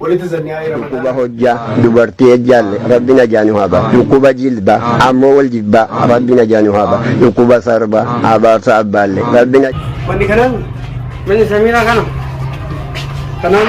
dhukkuba hojjaa dubartii ejjaalle rabbi najaa nu haba dhukkuba jilba ammoo wal jibba rabbi najaa nu haba dhukkuba sarba abaarsa abbaalle rabbi na Wanni kanaan manni samiiraa kana kanaan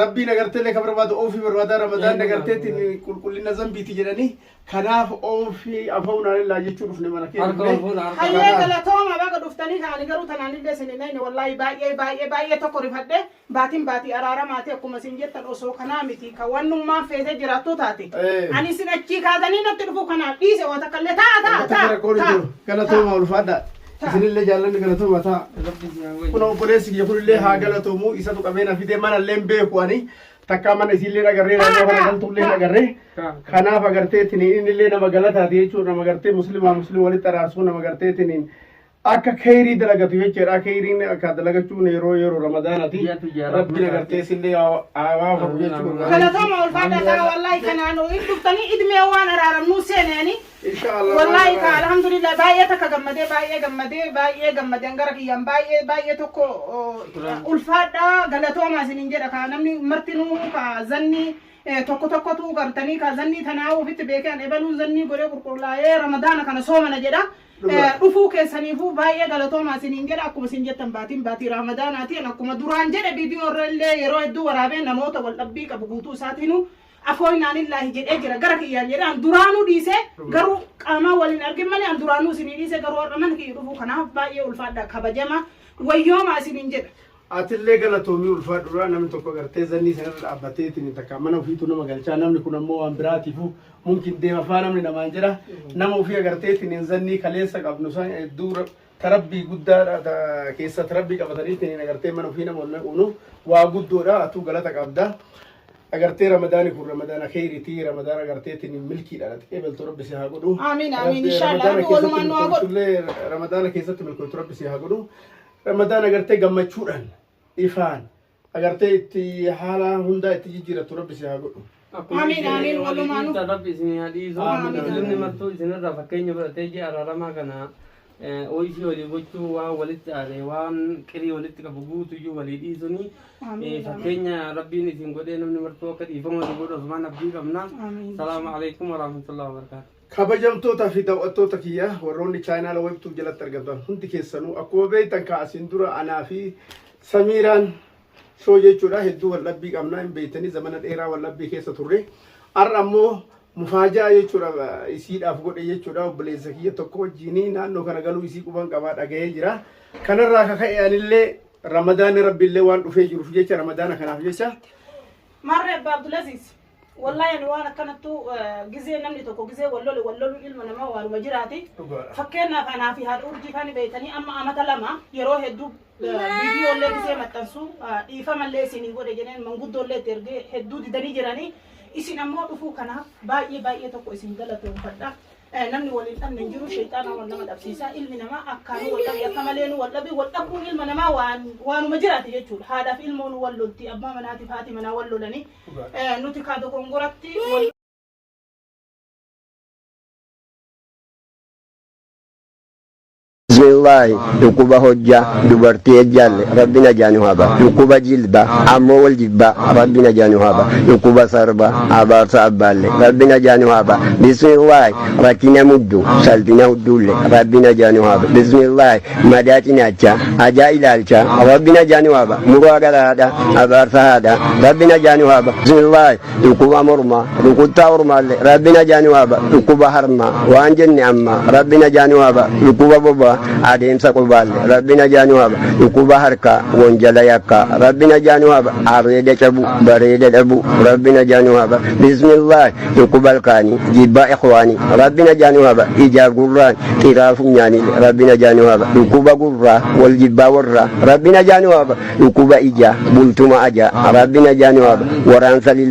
Rabbiin agarteellee ka barbaadu oofii barbaadaa ramadaan Eegumaa. agarteetiin qulqullina zambiiti jedhanii kanaaf oofii afa'uun haalellaa jechuu dhufne mana kee Harka dhufne. walfuudha harka. Hayyee Kanaaf. galatooma baga dhuftanii kaani garuu tanaan illee isin hin ayne wallaahi baay'ee baay'ee baay'ee tokko rifadhe baatiin baatii araaramaati akkuma isin jettan osoo kanaa miti ka wannummaan feetee jiraattuu taate Eh. ani isin achii kaatanii natti dhufu kanaaf dhiise waan takka illee taa taa Wanta taa rakkoon hin taa. jiru. Galatoomaa ulfaadhaa. isinillee jaallanni galatooma taa kun obboleessi kiyya kunillee haa galatoomu isatu qabeena fidee manallee hin beeku ani takkaa mana isiillee agarree naannoo kana galtullee agarree kanaaf agarteetiin innillee nama galataati jechuudha nama agartee muslimaa muslim walitti araarsuu nama agarteetiin akka keeyrii dalagatu jechuudha keeyriin akka dalagachuun yeroo yeroo ramadaanati Biyyaatu jaalatu rabbiin isaa. agartee isillee haawaa horu jechuudha. Galatama ulfaadha isaa wallahi kanaanu hin dhuftanii idmee waan araaramnuu seeneeni Insha Allah. Wallahi ka alhamdulillah baay'ee takka gammadee baay'ee gammadee baay'ee gammadeen gara kiyyaan baay'ee baay'ee tokko ulfaadha galatoomaa isinin jedha ka namni martinuu ka zanni tokko tokkotu gartanii ka zanni tanaa ofitti beekee an ebaluun zannii godhee qulqullaa'ee ramadaana kana soomana jedha. Dhufuu keessaniifuu baay'ee galatoomaa isinin jedha akkuma isin jettan baatiin baatii ramadanaati akkuma duraan jedhe viidiyoo irra illee yeroo hedduu waraabee namoota wal dhabbii qabu guutuu isaatiinuu Afoo inaanillaahi jedhee jira gara kiyyaan jedhee an duraanuu dhiisee garuu qaamaa waliin argin malee an duraanuu isinii dhiisee garuu har'a mana kiyya dhufuu kanaaf baay'ee ulfaadha kabajamaa wayyoomaa isiniin jedha. Atillee galatoomii ulfaa duraa namni tokko gartee zannii sanarra dhaabbatee ittiin takka mana ofiitu nama galchaa namni kun ammoo waan biraatiifu mumkin deema faa namni namaan jedha nama ofii agartee ittiin zannii kaleessa qabnu san hedduu ta rabbii guddaadha ta keessat rabbii qabatanii ittiin agartee mana ofii nama onnee uunuuf waa guddoodha atuu galata qabda agartee ramadaani kun ramadaana keeritii ramadaana agartee ittiin milkiidha dhaqee beltu rabbi si haa godhu Amiin, amiin, Agartee inshallah, ramadaana rabbi walumaan nu haa godhu. keessattillee ramadaana keessatti milkootu rabbi si haa godhu ramadaana agartee gammachuudhaan ifaan agartee itti haala hundaa itti jijjiirattu rabbi si haa godhu. Amiin, amiin, walumaanu. Dhiisan rabbi isin haa dhiisu. Amiin. Muslimni martuu isinirraa fakkeenya fudhatee ji'a araaramaa kana eh, ooyishii walii gochuu waan walitti aare waan qirii walitti qabu guutuyyuu walii dhiisuni eh, Amiin. fakkeenya rabbiin isin godhee namni martuu akka dhiifama walii godhu asumaan abdii qabna. Amiin. Salaamu alaikum warahmatullahi wabarakatuh. Kabajamtoota fi daw'attoota kiyya warroonni chaayinaala webtuuf jalatti argamtan hundi keessanuu akkuma beektan kaa asiin dura anaa fi samiiraan shoo jechuudha hedduu wal dhabbii qabnaa hin beektanii zamana dheeraa wal dhabbii keessa turre har'a ammoo mufaajaa jechuudha isiidhaaf godhe jechuudha obboleessa kiyya tokko wajjiinii naannoo kana galuu isii quban qabaa dhaga'ee jira kanarraa akka ka'e anillee ramadaana rabbiillee waan dhufee jiruuf jecha ramadaana kanaaf jecha Marre Abdulaziz. Wallahi ani waan akkanattu gizee namni tokko gizee wal lole wal loluun ilma namaa waanuma jiraati. Dhugaadha. Fakkeenyaaf anaa fi haadha urjii kan beektanii amma amata lama yeroo hedduu viidiyoo illee gizee maxxansu dhiifama illee isin hin godhe jedheen manguddoo illee itti ergee hedduu didanii jiranii isin ammoo dhufuu kanaaf baay'ee baay'ee tokko isin galatoomfadha. Eh, Namni waliin dhabne hin jiru sheexaana wal nama dhabsiisa ilmi namaa akkaan wal dhabe akka malee nu wal dhabe wal dhabuun ilma namaa waan waanuma jiraati jechuudha haadhaaf ilmoon wal lolti abbaa manaatiif haati manaa wal lolanii Nuti kaa dogongoratti. Bismillaahi dhukkuba hojjaa dubartii ejjaalle rabbi najaa nu haba dhukkuba jilba ammoo wal jibba rabbi najaa nu haba dhukkuba sarba abaarsa abbaalle rabbi najaa nu haba bismillaahi rakkina muddu salphina hudduulle rabbi najaa nu haba bismillaahi Madaa cinaacha ajaa ilaalcha Rabbi najaa nu haba muraa gara haadha abaarsa haadha Rabbi najaa nu haba bismillaahi dhukkuba mormaa rukuttaa ormaalle Rabbi najaa nu haba dhukkuba harmaa waan jenne amma Rabbi najaa nu haba dhukkuba bobaa adeemsa qubaalle Rabbi najaa nu haba dhukkuba harkaa wanjala yakkaa Rabbi najaa nu haba areeda cabuu bareeda dhabuu Rabbi najaa nu haba bismillaahi Dhukkuba halkaanii, jibbaa ikhwaanii, Rabbi najaa nu haba, ijaa gurraan, xiraa funyaanii, Rabbi najaa nu haba, dhukkuba gurraa, wal jibbaa warraa, Rabbi najaa nu haba, dhukkuba ijaa, bultuma ajaa, Rabbi najaa nu haba, waraansa lilmaa.